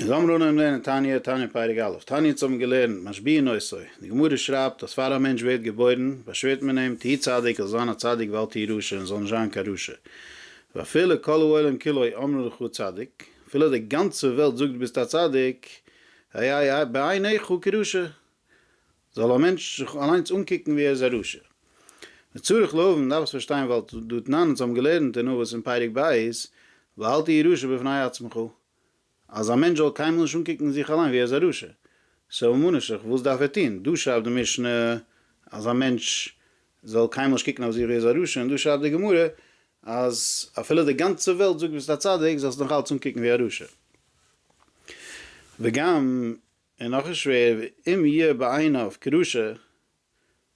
און זאמר אן אויבן לערנען תניא, תניא פרק א', תניא'נס האבן געלערנט, משביעין נוסוי, די גמרא שרייבט אז פאר א מענטש ווערט געבוירן, באשווערט מען אים, תהי' צדיק, זאל זיין א צדיק ואל תהי' רשע, און זאל נישט זיין קיין רשע. ואפילו כל העולם כולו אומרים לך צדיק, אפילו די גאנצע וועלט זאגט ביסט א צדיק, היה בעיניך כרשע, זאל א מענטש זיך אליינס אנקוקן ווי ער איז א רשע. וצריך להבין, מען דארף עס פארשטיין ווייל דו תנן אונז האבן געלערנט אין אבות אין פרק ב', ואל תהי' רשע בפני עצמך, אז א מענטש זאל קיינמאל נישט אנקוקן זיך אליין ווי ער איז א רשע. סאו ממה נפשך וואס דארף ער טון? דא שרייבט די משנה אז א מענטש זאל קיינמאל נישט קוקן אויף זיך ווי ער איז א רשע, און דא שרייבט די גמרא אז אפילו די גאנצע וועלט זאגט ביסט א צדיק זאלסט נאכאלץ אנקוקן ווי א רשע. וגם און נאך א שווער ואם יהיה בעיניו כרשע,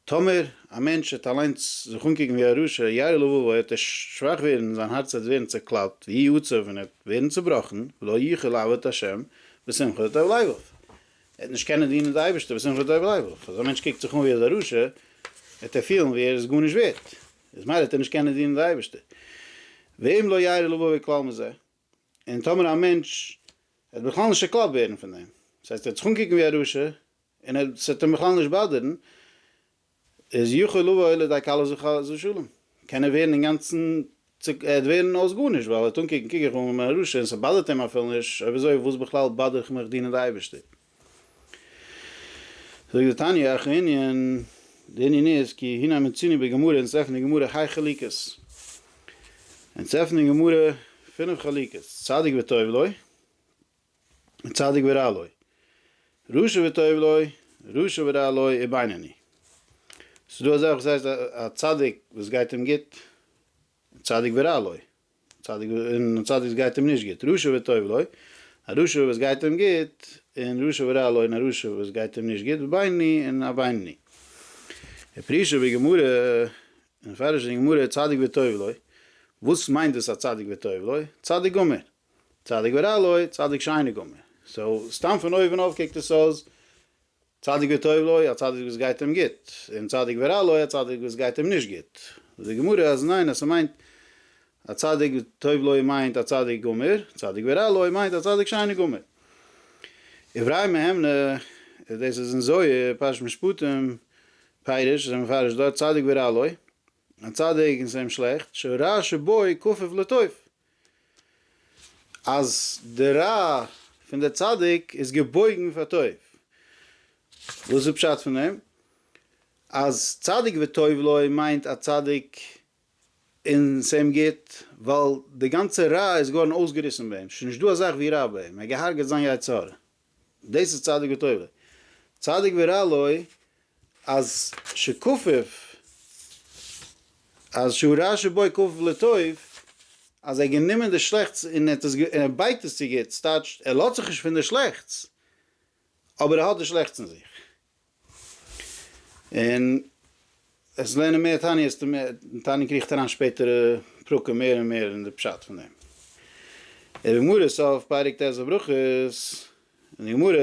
טאמער א מענטש וועט אליינס זיך אנקוקן ווי א רשע, יאיר לבבו וועט ער שוואך ווערן און זיין הארץ וועט ווערן צעקלאפט, ויהי עצוב און ער וועט ווערן צובראכן, ולא יוכל לעבוד את ה' בשמחה טוב לבו, ער וועט נישט קענען דינען די אייבערשטער בשמחה טוב לבו, אז א מענטש קוקט זיך אן ווי ער איז א רשע, וועט ער פילן ווי ער איז גארנישט ווערט, איז מילא וועט ער נישט קענען דינען די אייבערשטער, ואם לא יאיר לבבו כלל מזה. און טאמער א מענטש וועט בכלל נישט שקלאפט ווערן פון דעם, דאס הייסט ער וועט זיך אנקוקן ווי א רשע, און ער ס'וועט אים בכלל נישט באדערן, איז יכול לבוא אל ידי כלה זו כלה זו שלום, קען ער ווערן אינגאנצן צו, ער וועט ווערן אויס גארנישט, ווייל ער וועט אנקוקן קוק איך אן ווי א רשע, און ס'באדערט אים אפילו נישט, אויב אזוי וואס בכלל באדער איך מיך דינען די אייבערשטער? זאגט דער תניא איך ענין, די ענין איז כי הנה מצינו בגמרא אונז עפענען די גמרא ה' חליקות, אונז עפענען גמרא פינף חליקות, צדיק וטוב לו, צדיק ורע לו, רשע וטוב לו, רשע ורע לו, און בינוני. ס'איז דא אזעלכע וואס הייסט א צדיק וואס גייט אים גוט, צדיק ורע לו, צדיק און א צדיק וואס גייט אים נישט גוט, רשע וטוב לו, א רשע וואס גייט אים גוט, און רשע ורע לו, און א רשע וואס גייט אים נישט גוט, ובינוני און א בינוני. ופרישא בגמרא, און מפרש אין גמרא צדיק וטוב לו, וואס מיינט דאס א צדיק וטוב לו? צדיק גמור. צדיק ורע לו, צדיק שאינו גמור. סאו סתם פון אויבן אויף קוקט עס אויס צדיק וטוב לו, א צדיק וואס גייט אים גוט, און צדיק ורע לו, א צדיק וואס גייט אים נישט גוט. זאגט די גמרא אז ניין, אז ס'מיינט א צדיק וטוב לו מיינט א צדיק גמור, צדיק ורע לו מיינט א צדיק שאינו גמור. איבראי מהימנא, דאס איז אין זוהר, פרשת משפטים, פירוש, זיי מפרש דארט צדיק ורע לו, א צדיק און ס'איז אים שלעכט, שו ר שבו י כפוף לטוב, אז די רע פון די צדיק איז געבויגן פאר טוב, וואס איז פשט פון דעם? אז צדיק וטוב לו מיינט א צדיק און ס'איהם גוט, ווייל די גאנצע רע איז געווארן אויסגעריסן ביי אים, ס'איז נישט דא א זאך ווי רע ביי אים, ער האט געהארגעט זיין יצר הרע. דאס איז צדיק ותורה. צדיק ורע לו, אז שכופף, אז שהוא רע שבוי כופף לטוב, אז ער האט גענומען די שלעכטס און ער האט עס, און ער בייגט עס צו גוטס, טייטש, ער לאזט זיך נישט פון די שלעכטס, אבער ער האט די שלעכטס אין זיך. און עס לערנען מער תעניות די מער די תענית קריכט אריין שפעטערע פרקים מער און מער אין די פשט פון דעם און די גמרא סוף פרק ט' בברכות און די גמרא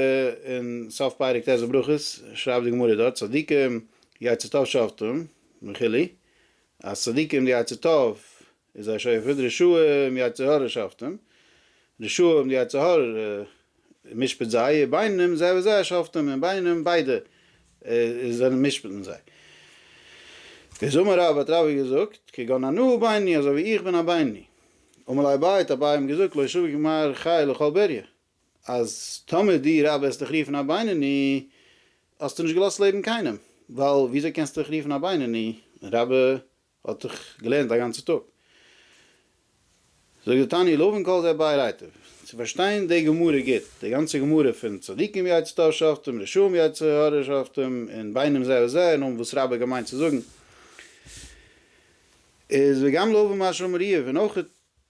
און סוף פרק ט' בברכות שרייבט די גמרא דארט צדיקים יצר טוב שבתם וכו' אז צדיקים די יצר טוב איז א שופט רשעים און יצר הרע שופטים, רשעים און יצר הרע משפט זיי, און ביינעם זה וזה שופטים, און ביינעם ביידע זענען משפט'ן זיי. איז אמר רב, האט רבי געזאגט, כגון אנא בייני, אזוי ווי איך בין א בייני. אמר ליה אביי, האט אביי אים געזאגט, לא שוויג מר חי לכל בריה, אז טאמער דו רבי וועסט דיך רופן א בינוני, האסטו נישט געלאזט לעבן קיינעם, ווייל וויאזוי קענסטו דיך רופן א בינוני, רבי האט זיך געלערנט א גאנצע טאג. זאגט די תניא לא בין כל זה באי רייתא, צו פארשטיין די גמרא גוט, די גאנצע גמרא פון צדיקים יצר טוב שחטום, רשעים יצר הרע שחטום, און בינם זה וזה, און האבן וואס רבי האט געמיינט צו זאגן, איז וגם לא במה שאמר איוב, און אויך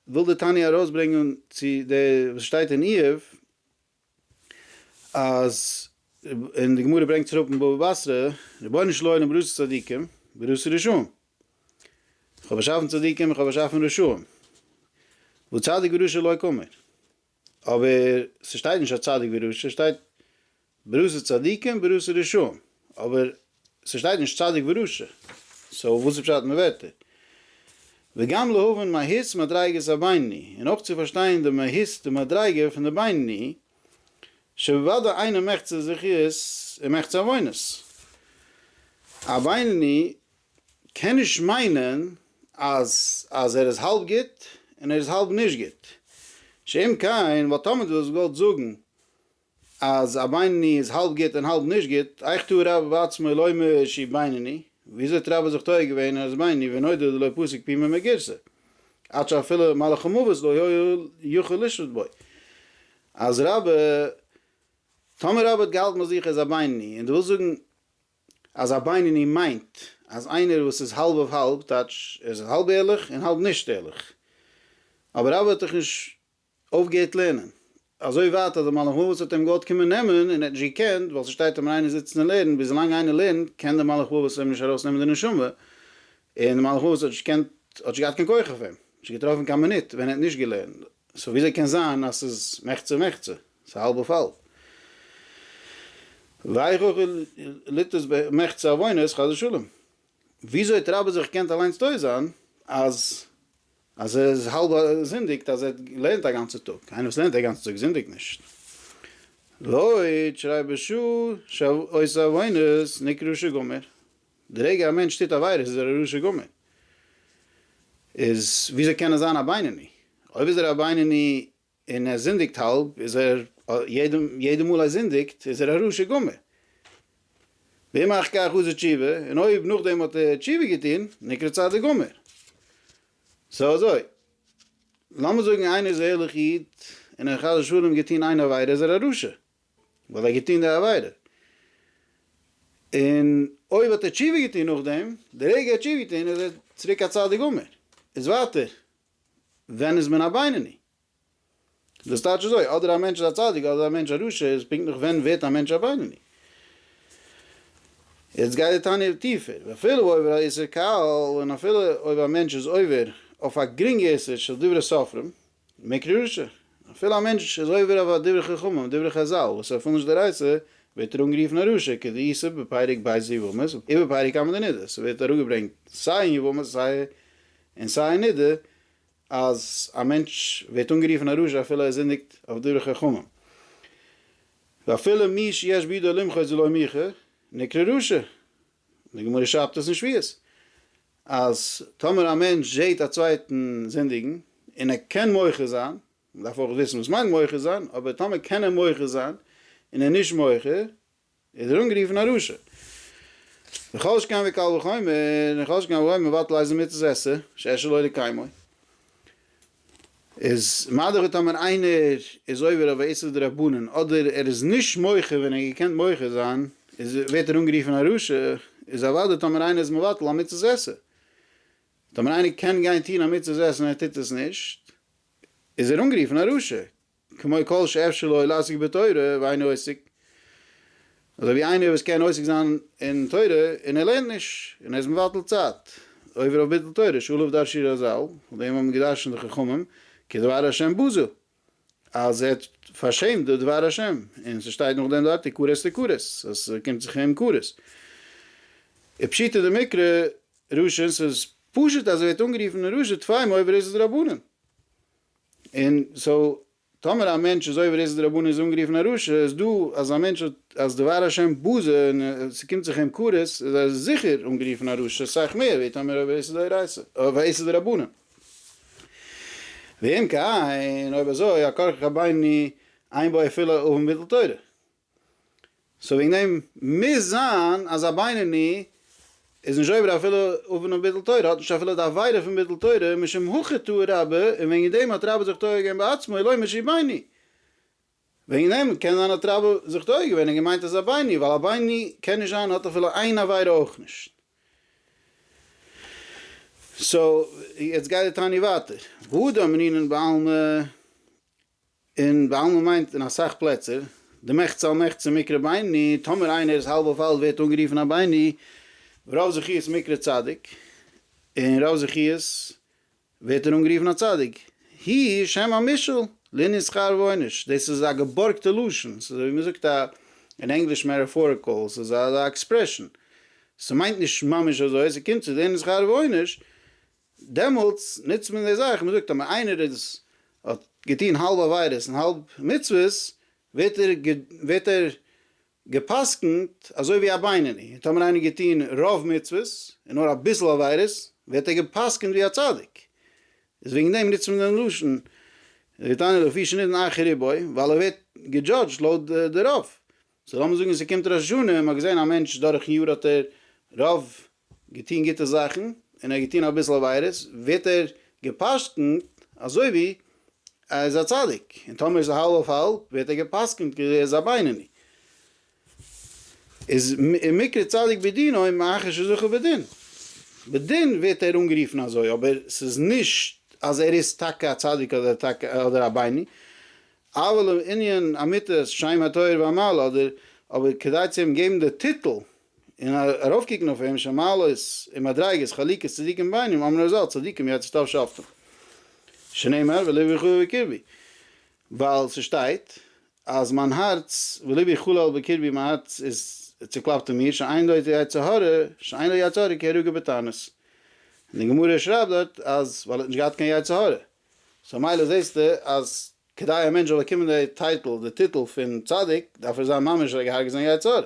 וויל די תניא ארויסברענגען צו די וואס שטייט אין איוב, אז און די גמרא ברענגט אראפ אין בבא בתרא רבונו של עולם בראשית צדיקים בראשית רשעים איך האב באשאפן צדיקים איך האב באשאפן רשעים וצדיק ורשע לא כמר אבער ס'שטייט נישט אז צדיק ורשע ס'שטייט בראשית צדיקים בראשית רשעים אבער ס'שטייט נישט צדיק ורשע, סאו וואס איז פשט אין די ווערטער? וגם להבין מהות מדריגת הבינוני, און אויך צו פארשטיין די מהות די מדריגה פון די בינוני, שבוודאי איינער מחצה זכיות און מחצה עוונות. א בינוני קען נישט מיינען אז אז ער איז האלב גוט און ער איז האלב נישט גוט, שאם כן וואלט תמיד וואס געוואלט זאגן, אז א בינוני איז האלב גוט און האלב נישט גוט, איך טוה רבה בעצמו לומר שהיא בינוני, וויאזוי האט רבה זיך טועה געווען אז ער איז בינוני ונודע דלא פסיק פימה מגירסא, עד שאפילו מלאך המוות לא היה יכול לשלוט בו. אז רבה, טאמער רבה האט געהאלטן ביי זיך ער איז א בינוני, און דו ווילסט זאגן אז א בינוני מיינט אז איינער וואס איז האלב אויף האלב, טייטש ער איז האלב ערליך און האלב נישט ערליך, אבער רבה האט דאך נישט אויפגעהערט לערנען. אזוי ווייט אז די מלאך מוות האט אים געוואלט קומען נעמען און ער האט נישט געקענט, ווייל ס'שטייט אז ווען איינער זיצט און לערנט, ביז לאנג איינער לערנט, קען די מלאך מוות אים נישט ארויסנעמען די נשמה, און די מלאך מוות האט נישט געקענט, האט נישט געהאט קיין כח אויף אים, נישט געטראפן קיין מינוט ווען ער האט נישט געלערנט, סאו וויאזוי קען זיין אז ס'איז מחצה מחצה? ס'איז האלב אויף האלב. ואיך אויך ליתוס במחצה עוונות חס ושלום. וויאזוי האט רבי זיך געקענט אליינס טועה זיין אז אז ער איז האלב זינדיגט אז ער לערנט א גאנצע טאג, איינער וואס לערנט א גאנצע טאג זינדיגט נישט. לויט שרי ב ש שעושה עוונות נקרא רשע גמור, די רגע א מענטש טוט עבירות איז ער א רשע גמור, איז וויאזוי קען ער זיין א בינוני? אויב איז ער א בינוני און ער זינדיגט האלב, איז ער, יעדע מאל ער זינדיגט, איז ער א רשע גמור. ואם אחר כך עשה תשובה, און אויב נאכדעם האט ער תשובה געטון, נקרא צדיק גמור. סאו אזוי, לאמיר זאגן איינער איז א ערליכע איד, און ער האט חס ושלום געטון איין עבירה, איז ער א רשע, ווייל ער האט געטון די עבירה. און אויב האט ער תשובה געטון נאכדעם, די רגע ער האט תשובה געטון, איז ער צוריק א צדיק גמור. איז ווייטער, ווען איז מען א בינוני? דאס טייטש אזוי, אדער א מענטש איז א צדיק אדער א מענטש א רשע, איז פונקטליך ווען ווערט א מענטש א בינוני? יעצט גייט די תניא טיפער, ואפילו עובר על איסור קל, און אפילו אויב א מענטש איז עובר אויף א גרינגע איסור של דברי סופרים, נקרא רשע, אפילו א מענטש איז עובר אויף א דברי חכמים, דברי חזל, וואס ער פולט נישט דאורייתא, ווערט ער אנגערופן א רשע, כדאיסור בפרק ב' יבמות, איבער פרק כמה דנידות, ס'ווערט אראפגעברענגט סיי אין יבמות סיי און סיי א נדה אז א מענטש ווערט אנגערופן א רשע אפילו ער זינדיגט אויף דברי חכמים. ואפילו מי שיש בידו למחות ולא מיחה נקרא רשע. די גמרא שרייבט עס אין שביעית אז טאמער א מענטש זעהט א צווייטן זינדיגן און ער קען מוחה זיין, מען דארף אויך וויסן וואס מיינט מוחה זיין, אבער טאמער קען ער מוחה זיין און ער איז נישט מוחה ער איז אנגערופן א רשע. וכל שכן וקל וחומר, און כל שכן אויב מען ווייט לייזן מצות עשה, שער שלא לקיימו. איז מאדער ווי טאמער איינער איז עובר אויף א איסור דרבנן, אדער ער איז נישט מוחה ווען ער האט געקענט מוחה זיין, איז ווערט ער אנגערופן א רשע, איז אוודאי טאמער איינער איז מבטל א מצות עשה. טאמער איינער קען גיין טון א מצות עשה און ער טוט עס נישט, איז ער אנגערופן א רשע. כמו כל שאפשר לו לעסוק בתורה ואינו עוסק, אזוי ווי איינער וואס קען עוסק זיין אין תורה און ער לערנט נישט, און ער איז מבטל צייט, עובר אויף ביטול תורה, שעליו דרשו רזל, אויף דעם האבן געדרשנט די חכמים, כי דבר השם בזו, אז ער האט פארשעמט די דבר השם, און ס'שטייט נאכדעם דארט און כרת לכרת, אז ס'קומט זיך אים כרת. ופשיטא דמקרא ראשון, ס'איז פשוט אז ער ווערט אנגערופן ראשון, טפלים עובר איז עס דרבנן. און סאו טאמער א מענטש איז עובר איזה דרבנן איז אנגערופן א רשע, איז דא אז א מענטש האט אז דבר השם בזה און ס'קומט זיך אים קרות איז ער זיכער אנגערופן א רשע סאך מער ווי טאמער עובר איזה דאורייתא אויף א איסור דרבנן. ואם כן אויב אזוי הכרכך ביני עין באי אפילו אויפן ביטול תורה. סאו וועגן דעם מוז זיין אז א בינוני איז נישט עובר אפילו עוון ביטול תורה, האט נישט אפילו די עבירה פון ביטול תורה משום הכי טעה רבה, און וועגן דעם האט רבה זיך טועה געווען בעצמו לא משום בינוני. וועגן דעם קען זיין האט רבה זיך טועה געווען און געמיינט אז א בינוני, ווייל א בינוני קען נישט זיין האט אפילו איין עבירה אויך נישט. סאו יעצט גייט די תענית ווייטער. והוא דאמרינן בעלמא. און בעלמא מיינט אין אסאך פלעצער די מחצה על מחצה מקרה בעיני, טאמער איינער איז האלב אויף האלב ווערט אנגערופן א בעיני, רוב זכיות מקרה צדיק, און רוב זכיות ווערט ער אנגערופן א צדיק, היא שם המשל לענין שכר ועונש, דאס איז א געבארגטע לשון, ס'איז אזויווי מ'זאגט א אין ענגליש מעטאפאריקעל, ס'איז א עקספרעשאן, ס'מיינט נישט ממש אזוי, ס'קומט צו לענין שכר ועונש, דעמאלטס נוצט מען די זאך, מ'זאגט אז איינער איז האט געטון האלב עבירות און האלב מצוות, ווערט ער ווערט ער גע'פסק'נט אזוי ווי א בינוני, און טאמער איינער האט געטון רוב מצוות און נאר אביסל עבירות, ווערט ער גע'פסק'נט ווי א צדיק. איז וועגן דעם נוצט מען דעם לשון ויתענה לפי שנותן אחר ריבו, ווייל ער ווערט געדזשאדזשט לויט די רוב, זאל לאמיר זאגן ס'קומט ראש השנה און מ'האט געזען א מענטש דורכן יאר האט ער רוב געטון גוטע זאכן און ער האט געטון אביסל עבירות, ווערט ער גע'פסק'נט אזוי ווי ער איז א צדיק, און טאמער איז ער האלב אויף האלב ווערט ער גע'פסק'נט כאילו ער איז א בינוני. איז ומקרה צדיק בדינו מאחר שזכה בדין. בדין ווערט ער אנגערופן אזוי אבער ס'איז נישט אז ער איז טאקע א צדיק אדער א בינוני, אבל און ענין המיתות שם התואר והמעלה אדער אבער כדי צו אים געבן די טיטל און ארויפקוקן אויף אים שמעלות און מדריגות חלוקת צדיקים בינם אמר רזל צדיקים יעצט שטאף שופטים שנאמר ולבי חלל בקרבי ווייל ס'שטייט אז מיין הארץ ולבי חלל בקרבי מיין הארץ איז צוקלאפט אין מיר שאין לו יצר הרע שאין לו יצר הרע כי הרגו בתענית און די גמרא שרייבט דארט אז ווייל ער האט נישט געהאט קיין יצר הרע סאו מילא זעסטו אז כדי א מענטש זאל באקומען די טייטל די טיטל פון צדיק דארף ער זיין ממש ער האט געהארגעט זיין יצה ר.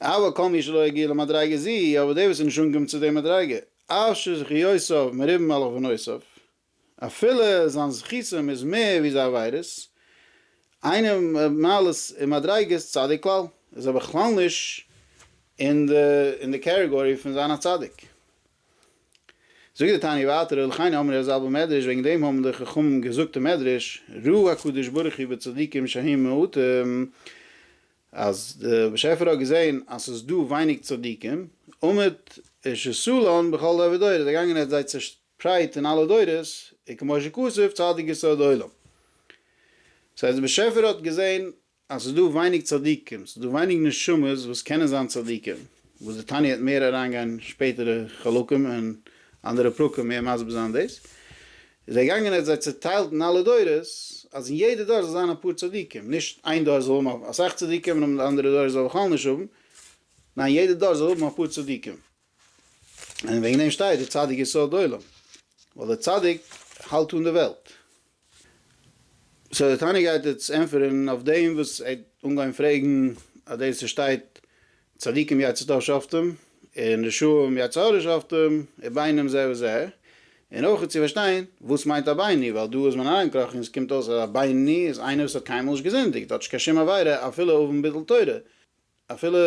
אבל כל מי שלא הגיע למדריגה זו, אבער דער וואס איז נישט אנגעקומען צו די מדריגה, אף שזכיותיו מרובים על עוונותיו, אפילו זיין זכותים איז מער ווי זיין עבירות, איינער מיט מעלות און מדריגות צדיק כלל, איז ער בכלל נישט אין די קערעגארי פון זיין א צדיק. זאגט די תניא ווייטער ולכן אמרי הזל במדרש וועגן דעם האבן די חכמים געזאגט אין מדרש ראה הקדוש ברוך הוא בצדיקים שהם מעטים אז די באשעפער האט געזען אז ס'איז דא ווייניג צדיקים ומת שסלן בכל דור ודור איז ער געגאנגען און ער האט זיי צעשפרייט אין אלע דורות וכמו שכתוב צדיק יסוד עולם ס'הייסט די באשעפער האט געזען אז ס'איז דא ווייניג צדיקים, ס'איז דא ווייניג נשמות וואס קענען זיין צדיקים, וואס די תניא וועט מער אריינגיין שפעטערע חלקים און אנדערע פרקים מער מסביר זיין דאס, איז ער געגאנגען און האט זיי צוטיילט אין אלע דורות, אז אין יעדע דור זאל זיין אפאר צדיקים, נישט איין דור זאל האבן אסאך צדיקים און די אנדערע דור זאל בכלל נישט האבן, ניין יעדע דור זאל האבן אפאר צדיקים. און וועגן דעם שטייט דער צדיק יסוד עולם, ווייל דער צדיק האלט אן די וועלט. סאו דער תנא גייט יעצט ענטפערן אויף דעם וואס ער האט אנגעהויבן פרעגן אז דאס וואס שטייט צדיקים יצא טוב שופטים און רשעים יצא הרע שופטים איז ביינם זה וזה, און אויך צו פארשטיין וואס מיינט א בינוני, ווייל דא איז מען אריינגעקראכן און עס קומט אויס אז א בינוני איז איינער וואס האט קיינמאל נישט געזינדיגט, האט נישט קיין שום עבירה אפילו אויבן ביטול תורה, אפילו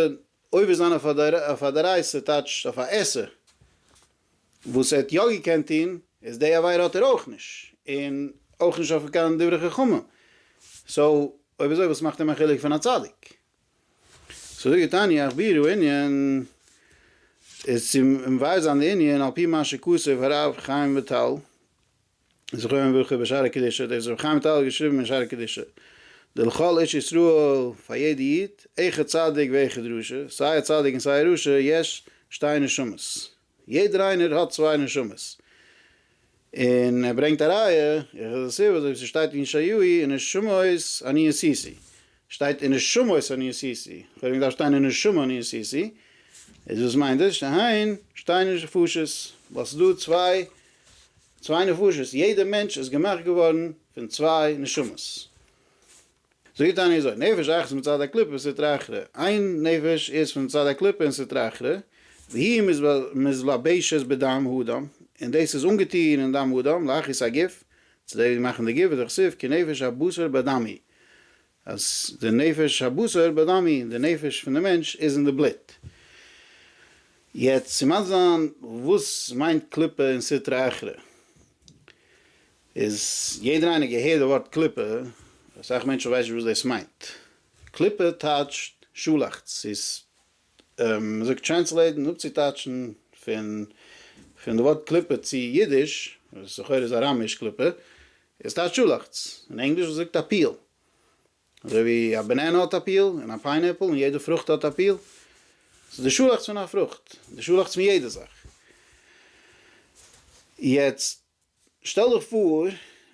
עובר זיין אויף א דאורייסה טייטש אויף א עשה וואס ער האט יא געקענט טון איז די עבירה האט ער אויך נישט און אויך נישט אויף קיין דברי חכמים סאו אויב אזוי וואס מאכט אים א חילוק פון א צדיק סאו זאג איך תעניא איך בירור ענין איז צו מבאר זיין די ענין על פי מה שכתב הרב חיים וויטאל זכרון לברכה ביי שערי קדושה, דאס האט רבי חיים וויטאל געשריבן אין שערי קדושה, די לכל איש ישראל פאר יעדע איד, איכא צדיק ואיכא דרשא, סיי א צדיק און סיי א רשע, יש שתי נשמות, יעדער איינער האט צוויי נשמות, און ער ברענגט א ראיה, איכא דסיבא, אזוי ווי ס'שטייט אין ישעיהו, ונשמות אני עשיתי, שטייט אין נשמות און אין סי סי, כ'וואלט ווען געדארפט שטיין אין נשמה און אין סי סי, איז וואס מיינט דאס שטיין? שטייען נישט נפשות, ווייל ס'איז דא צוויי צוויי נפשות, יעדע מענטש איז געמאכט געווארן פון צוויי נשמות. זאג די תניא אזוי, נפש אחת מצד הקליפה וסטרא אחרא, איין נפש איז פון צד הקליפה און סטרא אחרא, והיא מזלבשת בדם האדם, און דאס איז אנגעטון אין דם האדם, להכעיס הגוף, צו דערוויגן מאכן די גוף, ודכתיב כי נפש הבשר בדם היא, אז די נפש הבשר בדמי, די נפש פון די מענטש איז אין די בלוט. יעצט ס'מיינסט זיין וואס מיינט קליפה אין סטרא אחרא. איז יעדער איינער געהערט די ווארט קליפה, אסאך מענטשן ווייסט נישט וואס דאס מיינט. קליפה טייטשט שאלאכץ, ס'איז מ'זאגט טרענסלעיטן, אפצוטייטשן, פון פון די ווארט קליפה צו אידיש, וואס לכאורה איז אראמיש קליפה, איז טייטש שאלאכץ, אין ענגליש וואס זאגט א פיל. אזוי ווי א בענענע האט א פיל, און א פיינעפל, און יעדע פרוכט האט א פיל. ס'איז די שאלאכץ פון א פרוכט, די שאלאכץ פון יעדע זאך. יעצט שטעל דיך פאר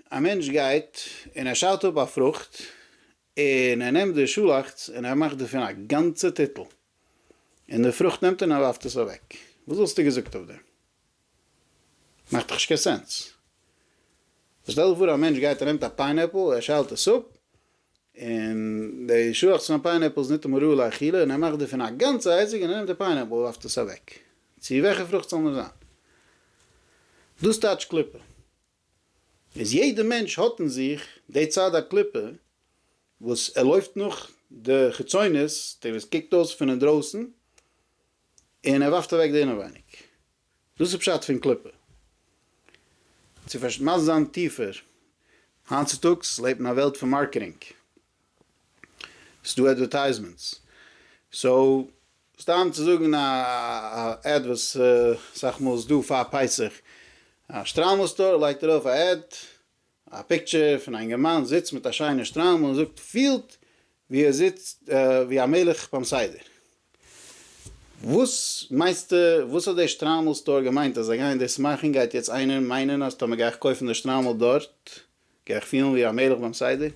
א מענטש גייט און ער שיידט אפ א פרוכט, און ער נעמט די שאלאכץ און ער מאכט דערפון א גאנצע טיטל, און די פרוכט נעמט ער און ער ווארפט עס אוועק, וואס וואלסטו געזאגט אויף דעם? מאכט דאך נישט קיין סענס. שטעל דיך פאר א מענטש גייט ער נעמט א פיינעפל ער שיילט עס אפ, און די שאלאכץ פון א פיינעפל איז ניטאמאל ראוי לאכילה, און ער מאכט דערפון א גאנצע אייזיק און ער נעמט די פיינעפל און ווארפט עס אוועק, צו וועלכע פרוכט ס'זאל נאר זיין. דאס טייטשט קליפה. איז יעדע מענטש האט אין זיך די צד הקליפה וואס ער לויפט נאך די חיצונות, די וואס קוקט אויס פון אינדרויסן, און ער ווארפט אוועק די אינעווייניג. דאס איז פשט פון קליפה. צו פארשט מיינסט זיין טיפער. היינט צוטאגס לעבט מען א וועלט פון מארקעטינג. ס'דא עדווערטייזמענטס, סאו סתם צו זאגן א עד וואס אסאך מאל איז דא פאר פסח, א שטריימל סטאר לייגט ארויף א עד, א פיקטשער פון א אינגערמאן זיצט מיט א שיינע שטריימל און זאגט פילט ווי ער זיצט ווי א מלך ביים סדר. וואס מיינסטו וואס האט די שטריימל סטאר געמיינט אז זיי גייען דאס מאכן? גייט יעצט איינער מיינען אז טאמער גיי איך קויפן די שטריימל דארט גיי איך פילן ווי א מלך ביים סדר?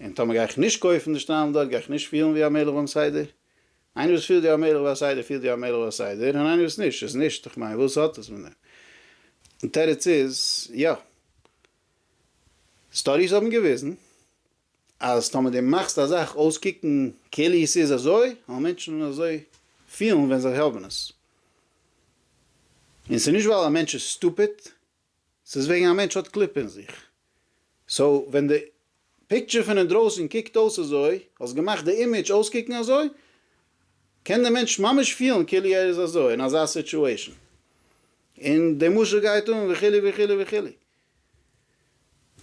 און טאמער גיי איך נישט קויפן די שטריימל דארט גיי איך נישט פילן ווי א מלך ביים סדר? איינער וואס פילט ווי א מלך ביי א סדר פילט ווי א מלך ביי א סדר און איינער וואס נישט איז נישט, איך מיין וואס האט עס מיט דעם? די תירוץ איז יא. סטאדיס האבן געוויזן אז טאמער די מאכסט א זאך אויסקוקן כאילו עס איז אזוי וועלן מענטשן אזוי פילן ווען זיי האבן עס. און ס'נישט ווייל א מענטש איז סטופיד ס'איז וועגן א מענטש האט קליפ אין זיך. סאו ווען די פיקטשער פון אינדרויסן קוקט אויס אזוי, האסט געמאכט די אימעדזש אויסקוקן אזוי, קען די מענטש ממש פילן כאילו ער איז אזוי אין אזא סיטשועישן. און די משל גייט אן וכו' וכו' וכו'.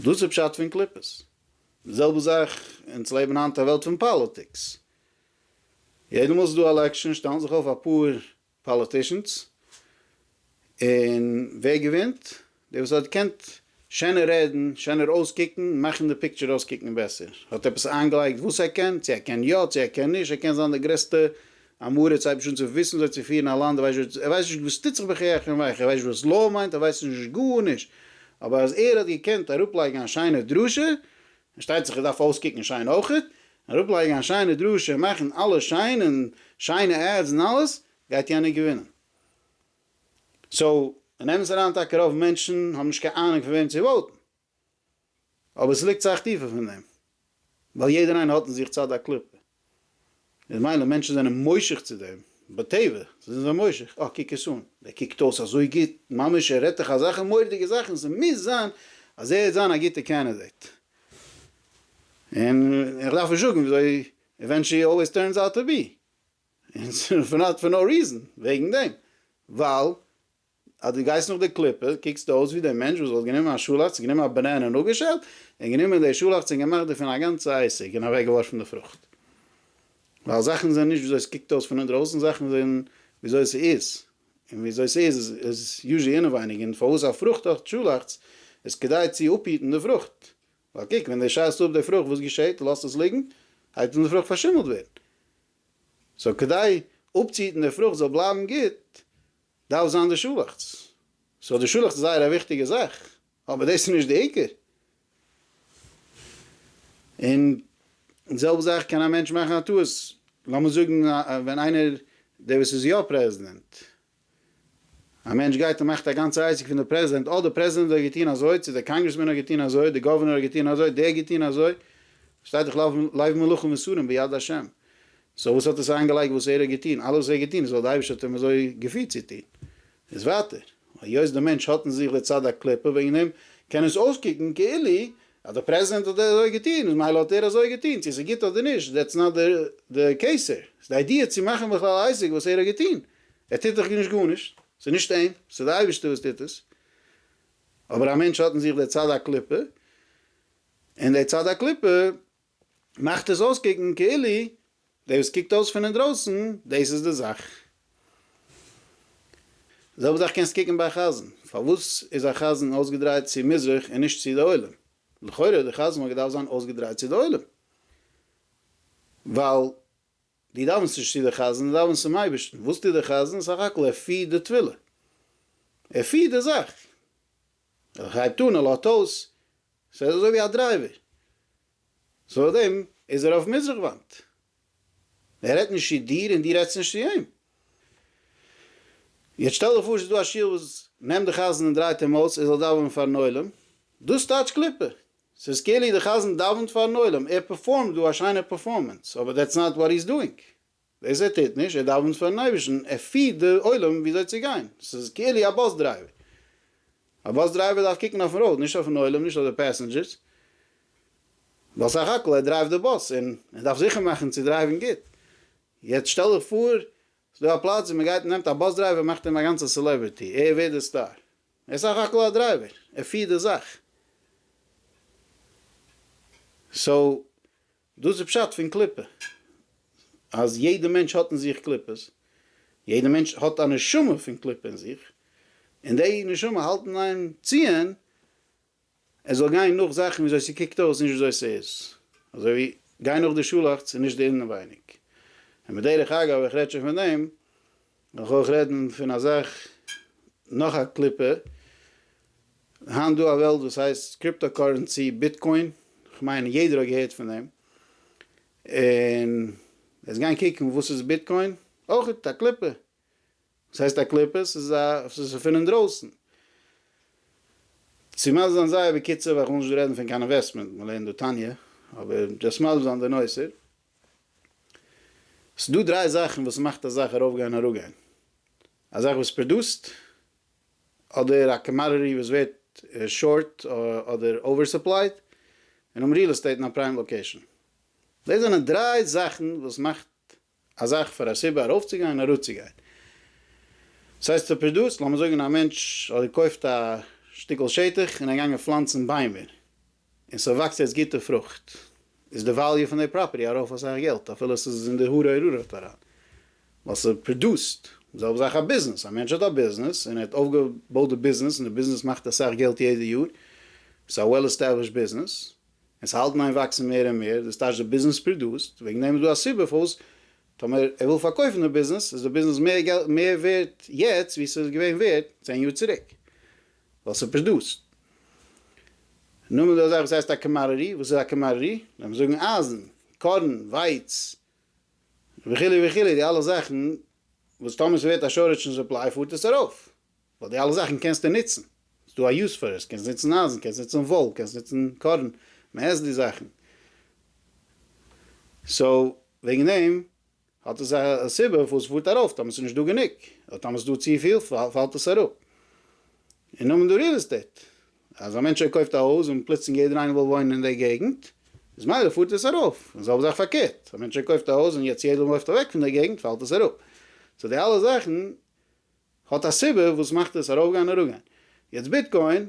דאס איז פשט פון קליפות. די זעלבע זאך, אונז לעבן היינט א וועלט פון פאליטיקס. יעדע מאל ס'איז דא עלעקשאן שטעלן זיך אויף אפאר פאליטישאנס, און ווער געווינט? דער וואס האט געקענט שענער רעדן, שענער אויסקוקן, מאכן די פיקטשער אויסקוקן בעסער, האט עפעס איינגעלייגט וואס ער קען, צו ער קען יא, צו ער קען נישט, ער קען זיין דער גרעסטע עם הארץ, אייביג שוין צו וויסן וויאזוי צו פירן א לאנד, ער ווייסט שוין, ער ווייסט נישט וואס טוט זיך בחייכם ווייכם, ער ווייסט נישט וואס לאו מיינט, ער ווייסט נישט גארנישט, אבער אז ער האט געקענט אראפלייגן א שיינע דרשה, און שטייט זיך ער דארף אויסקוקן שיין אויכעט, און אראפלייגן א שיינע דרשה און מאכן אלעס שיין און שיינע עדס און אלעס, גייט יענער געווינען. סאו, און אמת אריין טאקע רוב מענטשן האבן נישט קיין אהנונג פון וועם צו וואוטן. אבער ס'ליגט סאך טיפער פון דעם. ווייל יעדער איינער האט אין זיך צד הקליפה. איז מילא מענטשן זענען מושך צו דעם, בטבע זענען זיי מושך, אה קוק עס אן, דער קוקט אויס אזוי גוט, ממש ער רעדט דאך אזעלכע מורא'דיגע זאכן, ס'מוז זיין אז ער וועט זיין א גוטע קענדידעיט, און איך דארף נישט זאגן וויאזוי עווענטשעלי אלוועיס טורנס אוט טו בי, און ס'איז נאט פאר נאו ריזען, וועגן דעם, ווייל אז דו גייסט נאך די קליפה, קוקסטו אויס ווי דער מענטש וואס וואלט גענומען א שאלאכץ, גענומען א באנענע און אפגעשעלט, און גענומען די שאלאכץ און געמאכט דערפון א גאנצע עסק, און אוועקגעווארפן די פרוכט. ווייל זאכן זענען נישט וויאזוי עס קוקט אויס פון אינדרויסן, זאכן זענען וויאזוי עס איז, און וויאזוי עס איז איז יוזשעלי אינעווייניג, און פארוואס א פרוכט האט שאלאכץ, איז כדי צו אפהיטן די פרוכט, ווייל קוק, ווען דו שיידסט אפ די פרוכט, וואס געשעהט? לאזט עס ליגן, הייבט אן די פרוכט פארשימלט ווערן. סאו כדי אפצוהיטן די פרוכט זאל בלייבן גוט, דארף זיין די שולעכטס, סאו די שולעכטס איז זייער א וויכטיגע זאך, אבער דאס איז נישט די עיקר, און די זעלבע זאך קען א מענטש מאכן א טעות, לאמיר זאגן ווען איינער דער וואס איז יא פרעזידענט, א מענטש גייט און מאכט א גאנצע עסק פון די פרעזידענט, אה די פרעזידענט האט געטון אזוי, צו די קאנגרעסמען האט געטון אזוי, די גאווערנער האט געטון אזוי, דער האט געטון אזוי, שטייט דאך לב מלאכים ושרים ביד השם, סאו וואס האט עס איינגעלייגט וואס ער האט געטון? אלעס וואס ער האט געטון איז ווייל די אייבערשטער האט אים אזוי געפירט צו טון. איז ווייטער, היות די מענטש האט אין זיך די צד הקליפה, וועגן דעם קען עס אויסקוקן כאילו אז די פרעזידענט האט אזוי געטון איז מילא האט ער אזוי געטון, צו עס איז גוט אדער נישט דעטס נאט די קעיס הער. ס'איז די איידיע צו מאכן בכלל א עסק וואס ער האט געטון. ער טוט דאך נישט גארנישט, ס'איז נישט אים, ס'איז די אייבערשטער וואס טוט עס. אבער א מענטש האט אין זיך די צד הקליפה, און די צד הקליפה מאכט עס אויסקוקן כאילו דער וואס קוקט אויס פון אינדרויסן דאס איז די זאך. די זעלבע זאך קענסט קוקן ביי א חזן, פארוואס איז א חזן אויסגעדרייט צו מזרח און נישט צו די עולם? לכאורה די חזן וואלט געדארפט זיין אויסגעדרייט צו די עולם, ווייל דו דאווענסט נישט צו די חזן, דו דאווענסט צום אייבערשטן, וואס טוט די חזן? סך הכל ער פירט די טבילה, ער פירט די זאך. ער הייבט אן, ער לאזט אויס, ס'איז אזוי ווי א דרייווער. צוליב דעם איז ער אויף מזרח וואנט. ער רעדט נישט צו דיר און דו רעדסט נישט צו אים. יעצט שטעל דיך פאר ס'איז דא א שול וואס נעמט די חזן און דרייט אים אויס ער זאל דאווענען פארן עולם. דאס טייטש קליפה. ס'איז כאילו די חזן דאווענט פארן עולם, ער פערפארמט דא א שיינע פערפארמענס, אבער דעטס נאט וואט הי'ז דואינג. דאס ער טוט נישט, ער דאווענט פארן אייבערשטן, ער פירט די עולם וויאזוי צו גיין, ס'איז כאילו א באס דרייווער, א באס דרייווער דארף קוקן אויפן ראוד, נישט אויפן עולם, נישט אויף די פעסענדזשערס, ווייל סך הכל ער דרייווט די באס, און ער דארף זיכער מאכן צו דרייוון גוט, יעצט שטעל דיך פאר ס'איז דא א פלאץ ווי מ'גייט מ'נעמט א באס דרייווער און מאכט אים א גאנצע סעלעבריטי, ער ווערט די סטאר, ער איז סך הכל א דרייווער, ער פירט די זאך, סאו. דאס איז פשט פון קליפה, אז יעדע מענטש האט אין זיך קליפות, יעדע מענטש האט א נשמה פון קליפה אין זיך, און די נשמה האלט אין איין ציען ער זאל גיין נאך זאכן ווי אזוי ס'קוקט אויס נישט ווי אזוי ס'איז, אזוי ווי גיין נאך די שאלאכץ און נישט די אינעווייניג, און בדרך אגב איך רעד שוין פון דעם, מ'קען אויך רעדן פון א זאך, נאך א קליפה, היינט דא א וועלט וואס הייסט קריפטא קארענסי, ביטקוין, כ'מיין יעדער האט געהערט פון דעם, און עס גיין קוקן וואס איז ביטקוין, אויך א קליפה, וואס הייסט א קליפה, ס'איז א ס'איז פון אינדרויסן, צו מסביר זיין זייער בקיצור ווייל כ'וויל נישט דא רעדן פון קיין אינוועסטמענט, מ'לערנט דא תניא, אבער דזשאסט מסביר זיין די נושא. ס'דא דריי זאכן וואס מאכט א זאך ארויפגיין און אראפגיין. א זאך וואס פראדוסט, אדער א קאמאדעטי וואס ווערט שארט אדער אווערסופלייד, און האבן ריעל עסטעיט אין א פריים לאקעישאן. דאס זענען דריי זאכן וואס מאכט א זאך פאר א סיבה ארויפצוגיין און אראפצוגיין. ס'הייסט ער פראדוסט, לאמיר זאגן א מענטש האט געקויפט א שטיקל שטח און ער געגאנגען פלאנצן ביימער. און ס'וואקסט יעצט גוטע פרוכט, איז די וועליו פון די פראפערטי ארויף אסאך געלט, אפילו ס'איז אין די הררי רררט אריין, ווייל ס'פראדוסט. זעלבע זאך א ביזנעס, א מענטש האט א ביזנעס, און ער האט אויפגעבויט די ביזנעס, און די ביזנעס מאכט אסאך געלט יעדע יאר, ס'איז א וועל עסטעבלישט ביזנעס, און ס'האלט אין איין וואקסן מער און מער, דאס טייטש די ביזנעס פראדוסט, וועגן דעם איז דא א סיבה פארוואס טאמער ער וויל פארקויפן די ביזנעס, איז די ביזנעס מער ווערט יעצט ווי ס'איז געווען ווערט צען יאר צוריק. ווייל ס'איז פשט דאס. נו, מ'דא אזא זאך וואס הייסט א קאמאררי, וואס איז א קאמאררי? לאמיר זאגן אייזן, קארן, ווייץ, וכו' וכו', די אלע זאכן וואס טאמער ס'ווערט א שארעדזש אין סופליי פארט עס ארויף, ווייל די אלע זאכן קענסטו ניצן, ס'איז דא א יוז פאר עס, קענסט ניצן אייזן, קענסט ניצן וואל, קענסט ניצן קארן, מ'עסט די זאכן. סאו, וועגן דעם האט עס א סיבה פארוואס עס פארט ארויף, טאמער עס איז נישט דא גענוג, אדער טאמער עס איז דא צופיל פאלט עס אראפ. און נאר מיט די ריעל עסטעיט, אז א מענטש קויפט א הויז און פלוצלינג יעדער איינער וויל וואוינען אין די געגנט, איז מילא פארט עס ארויף, און די זעלבע זאך פארקערט, א מענטש קויפט א הויז און יעצט יעדער מופט אוועק פון די געגנט פאלט עס אראפ. סאו די אלע זאכן האט א סיבה וואס מאכט עס ארויפגיין און אראפגיין. יעצט ביטקוין,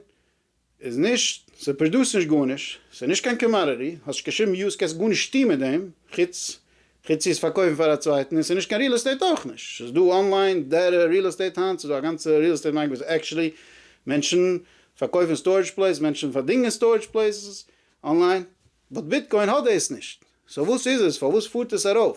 איז נישט, ס'פרדוסט נישט גארנישט, ס'איז נישט קיין קאמאדעטי, האסט געשריבן יוז קענסט גארנישט טוהן מיט דעם, חוץ חוץ צו עס פארקויפן פאר א צווייטן, און ס'איז נישט קיין ריעל עסטעיט אויך נישט, ס'איז דא אנליין דעטע ריעל עסטעיט היינט, ס'איז דא א גאנצע ריעל עסטעיט מארקעט וואס עקטשעלי מענטשן פארקויפן סטארעדזש פלעיס, מענטשן פארדינגען סטארעדזש פלעיסעס אנליין, באט ביטקוין האט דאס נישט, סאו וואס איז עס, פארוואס פארט עס ארויף,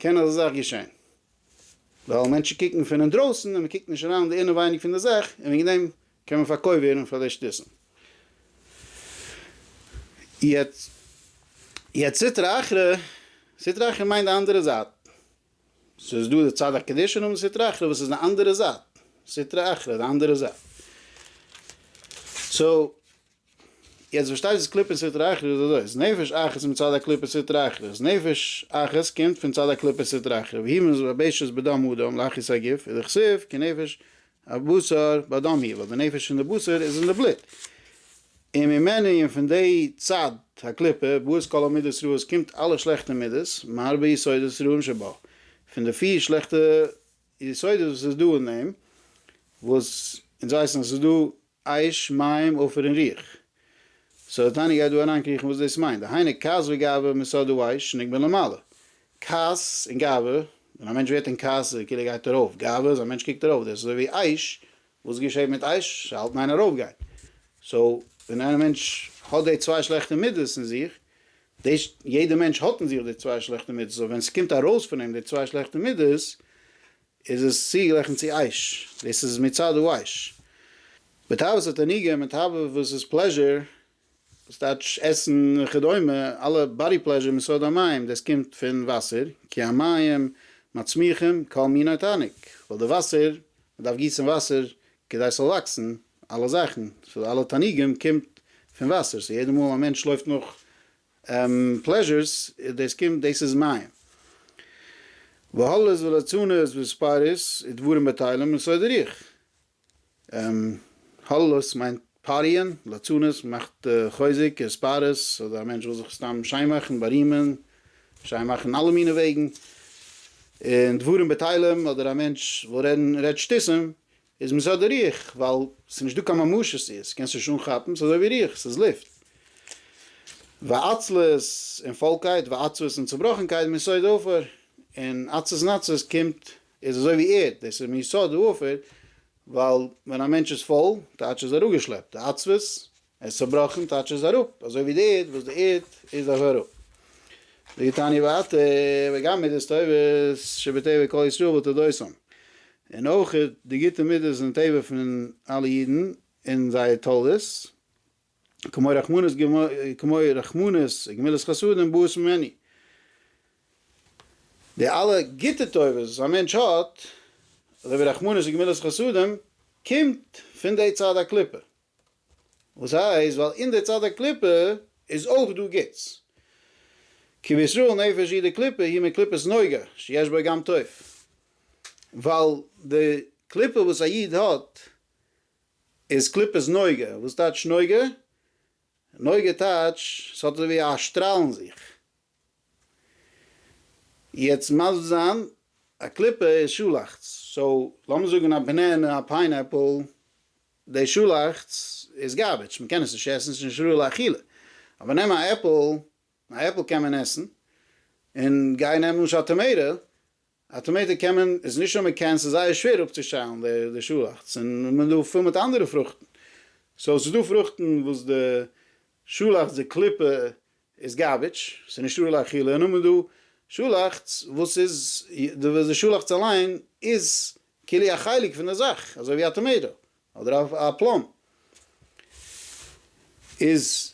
קען אזא זאך געשען ווייל מענטשן קוקן פון אינדרויסן און מען קוקט נישט אריין אין די אינעווייניג פון די זאך און וועגן דעם קען מען פארקויפט ווערן פאר די שטותים. יעצט יעצט סטרא אחרא, סטרא אחרא מיינט די אנדערע זייט, ס'איז דא די צד הקדושה און נאכדעם סטרא אחרא וואס איז די אנדערע זייט, סטרא אחרא די אנדערע זייט. סאו יעצט וואס שטייט איז קליפת סטרא אחרא איז אזוי אז נפש אחת איז מצד הקליפת סטרא אחרא אז נפש אחת קומט פון צד הקליפת סטרא אחרא והיא מבושת בדם האדם לאחוז הגוף איז דכסיב כי נפש הבשר באדם היא ווייל די נפש פון די בשר איז אין די בלוט וממנה און פון די צד הקליפה באות כל המידות רעות קומט אלע שלעכטע מידות מהרבה יסודות רעים שבה פון די פיר שלעכטע יסודות וואס איז דא אין אים וואס אונז ווייסן אז ס'איז דא אש מים עופר און רוח. סאו טאני גייט דא אריינקריכן וואס דאס מיינט, דהיינו כעס וגאווה מסוד דאעש שנק בין למעלה. כעס און גאווה, ווען א מענטש ווערט אין כעס איז כאילו ער גייט ארויף, גאווה איז א מענטש קוקט ארויף, דאס איז אזוי ווי אש, וואס געשעט מיט אש? ס'האלט אין איין ארויפגיין. סאו ווען איין מענטש האט די צוויי שלעכטע מידות אין זיך, דאס יעדע מענטש האט אין זיך די צוויי שלעכטע מידות, סאו ווען ס'קומט ארויס פון אים די צוויי שלעכטע מידות, איז עס צוגערעכנט צו עייש, דאס איז מצד הווייש. בתאוות התענוגים מיט תאווה וואס איז פלעזשור, דאס טייטש עסן וכדומה, אלע באדי פלעזשור מיסוד המים, דאס קומט פון וואסער, כי המים מצמיחים כל מיני תענוג, ווייל די וואסער, מען דארף גיסן וואסער כדי ס'זאל וואקסן אלע זאכן, סאו אלע תענוגים קומט פון וואסער, סאו יעדע מאל א מענטש לויפט נאך פלעזשערס דאס קומט דאס איז מים בהלות ולצנות וספאריס ודברים בטלים און סוי דורך הלות מיינט פאריען לצנות מאכט חוזק און ספאריס אדער א מענטש וויל זיך סתם שיין מאכן בארימען שיין מאכן אלע מיני וועגן און דברים בטלים אדער א מענטש וויל רעדן רעדט שטותים איז מען סה די רוח, ווייל ס'איז נישט דא קיין ממשות צו עס, קענסט נישט אנכאפן, ס'איז אזוי ווי רוח, ס'איז לופט. ועצלות און פוילקייט, ועצבות און צובראכנקייט מיסוד העופר, און עצות און עצבות קומט, איז אזוי ווי ערד, דאס איז מיסוד העופר, ווייל ווען א מענטש איז פויל, טייטש איז ער אפגעשלעפט, די עצבות ער איז צובראכן טייטש ער איז אראפ, אזוי ווי די איד וואס די איד איז אויך אראפ. זאגט תניא ווייטער, וגם מידות טובות שבטבע כל ישראל ותולדותם, און אויך די גוטע מידות זענען טבע פון אלע אידן און זייער תולדות, כמו רחמנות כמו רחמנות וגמילות חסדים באות ממני. די אלע גוטע טובות וואס א מענטש האט, אזוי ווי רחמנות וגמילות חסדים, קומט פון די צד הקליפה. וואס הייסט ווייל אין די צד הקליפה איז אויך דא גוטס? כי בישראל נפש היא דקליפה היא מקליפת נוגה שיש בה גם טוב, ווייל די קליפה וואס א איד האט איז קליפת נוגה, וואס טייטש נוגה? נוגה טייטש ס'האט אזויווי א שטראל אין זיך, יעצט מסביר זיין, א קליפה איז שאלאכטס, סאו לאמיר זאגן א בענענע, א פיינעפל, די שאלאכטס איז גארביטש, מען קען עס נישט עסן, עס איז נישט ראוי לאכילה, אבער נעם א עפל, א עפל קען מען עסן, און גיי נעם למשל טאמעיטא, אטאמעטיק קען מען, איז נישט אז מען קען, ס'איז זייער שווער אפצושטעלן די שאלאכץ, און מען איז דא פיל מיט אנדערע פרוכטן, סאו ס'איז דא פרוכטן וואס די שאלאכץ די קליפה איז גארביטש, ס'איז נישט ראוי לאכילה, און נאכדעם איז דא שאלאכץ וואס איז, די שאלאכץ אליין איז כולו א חלק פון די זאך, אזוי ווי א טאמעיטא, אדער א פלאם איז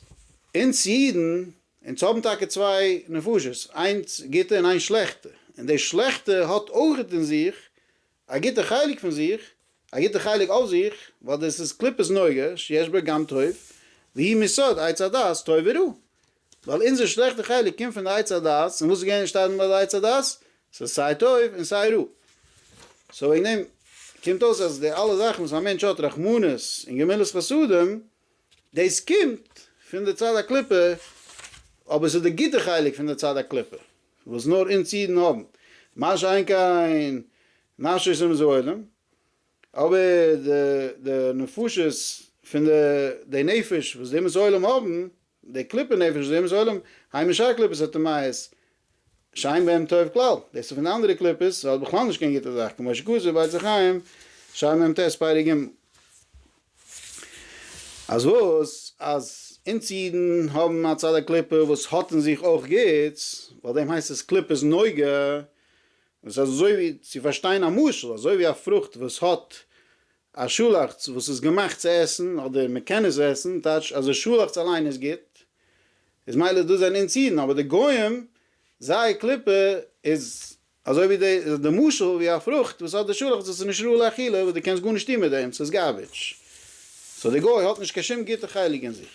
אונז אידן, אונז האבן טאקע צוויי נפשות, איינס גוטע און איינס שלעכטע, און די שלעכטע האט אויך אין זיך א גוטע חלק פון זיך, א גוטע חלק אויף זיך, ווייל דאס איז קליפת נוגה שיש בה גם טוב, והיא מיסוד עץ הדעת טוב ורע, ווייל אונזער שלעכטע חלק קומט פון די עץ הדעת, און וואס איז געווען אנשטאטן ביי די עץ הדעת? ס'איז סיי טוב און סיי רע. סאו וועגן דעם קומט אויס אז די אלע זאכן וואס א מענטש האט רחמנות און גמילות חסדים, דאס קומט פון די צד הקליפה, אבער ס'איז די גוטע חלק פון די צד הקליפה וואס נאר אונז אידן האבן, מה שאין כן נפשות אומות העולם, אבער די נפשות פון די נפש וואס די אומות העולם האבן, די קליפה נפש זעהן נישט עולם, היימישע א קליפות א טעמייעס שיין וועם טוב כלל, דאס איז פון די אנדערע קליפות וועלט בכלל נישט קיין גוטע זאך, כמו שכתוב בית החיים שער מ ט פרק ג, אז וואס אז אונז אידן האבן א צד הקליפה וואס האט אין זיך אויך גוטס, ווייל דעם הייסט עס קליפת נוגה, דאס איז אזוי ווי צו פארשטיין א משל, אזוי ווי א פרוכט וואס האט א שאלאכץ וואס איז געמאכט צו עסן אדער מען קען עס עסן, טייטש אז די שאלאכץ אליין איז גוט, איז מילא דאס זענען אונז אידן, אבער די גוים זייער קליפה איז אזוי ווי די די משל ווי א פרוכט וואס האט די שאלאכץ וואס איז נישט ראוי לאכילה וואס די קענסט גארנישט טון מיט דעם ס'איז גארביטש, סאו די גוי האט נישט קיין שום גוטע חלק אין זיך,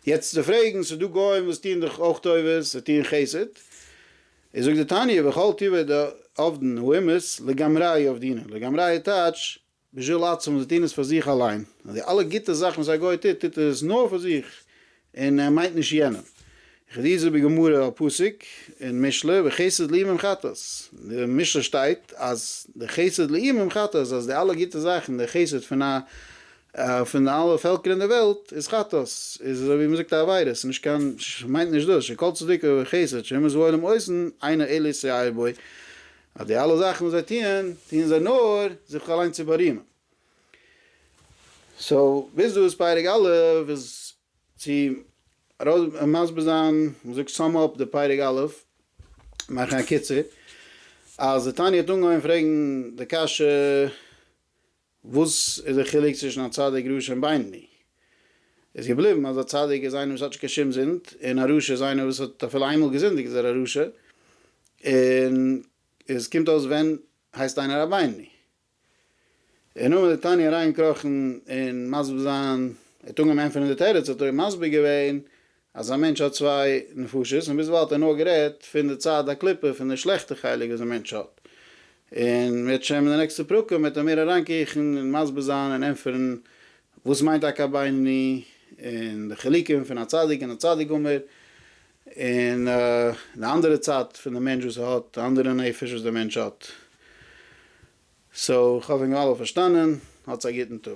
יעצט צו פרעגן ס'דא גוים וואס טוען דאך אויך טובות, זיי טוען חסד, ער זאגט די תניא וכל טבעי די עובדין הוא אימת לגמרי עובדינן לגמרי טייטש בשביל עצמו זיי טוהן עס פאר זיך אליין און די אלע גוטע זאכן וואס א גוי טוט טוט ער עס נאר פאר זיך און ער מיינט נישט יענעם וכדו' זאגט די גמרא א פסוק אין משלי וחסד לאימים חטאת אין די משלי שטייט אז די חסד לאימים חטאת אז די אלע גוטע זאכן די חסד פון א פון אלע פעלקער אין די וועלט איז חטאת איז אזוי ווי מען זאגט א עבירה ס'איז נישט קיין מיינט נישט דאס שכל צדקה וחסד שהם זבולים אויסן איינער אלה שיער בו אז די אלע זאכן וואס זיי טוען טוען זיי נאר זיך אליין צו בארימען סאו ביז דא איז פרק א' איז צו ארויס מסביר זיין מען זאגט סאם אפ די פרק א' מאכן א קיצור אז די תניא האט אנגעהויבן פרעגן די קשיא וואס איז די חילוק צווישן א צדיק, רשע און בינוני? איז געבליבן אז א צדיק איז איינער וואס האט נישט קיין שום זינד, און א רשע איז איינער וואס האט אפילו איינמאל געזינדיגט איז ער א רשע, און עס קומט אויס ווען הייסט איינער א בינוני? און נאר מיט די תניא אריינגעקראכן און מסביר זיין, ער האט אנגעהויבן ענטפערן די תירוץ האט ער מסביר געווען אז א מענטש האט צוויי נפשות, און ביזוואו האט ער נאר גערעדט פון די צד הקליפה, פון די שלעכטע חלק וואס די מענטש האט, און מ'וועט שוין אין די נעקסטע פרקים וועט ער מער אריינקריכן און מסביר זיין און ענטפערן וואס מיינט טאקע א בינוני, און די חילוקים פון א צדיק און א צדיק גמור, און די אנדערע צד פון די מענטש וואס ער האט, די אנדערע נפש וואס די מענטש האט. סאו כ'האף אונז האבן אלע פארשטאנען, האטס א גוטן טאג.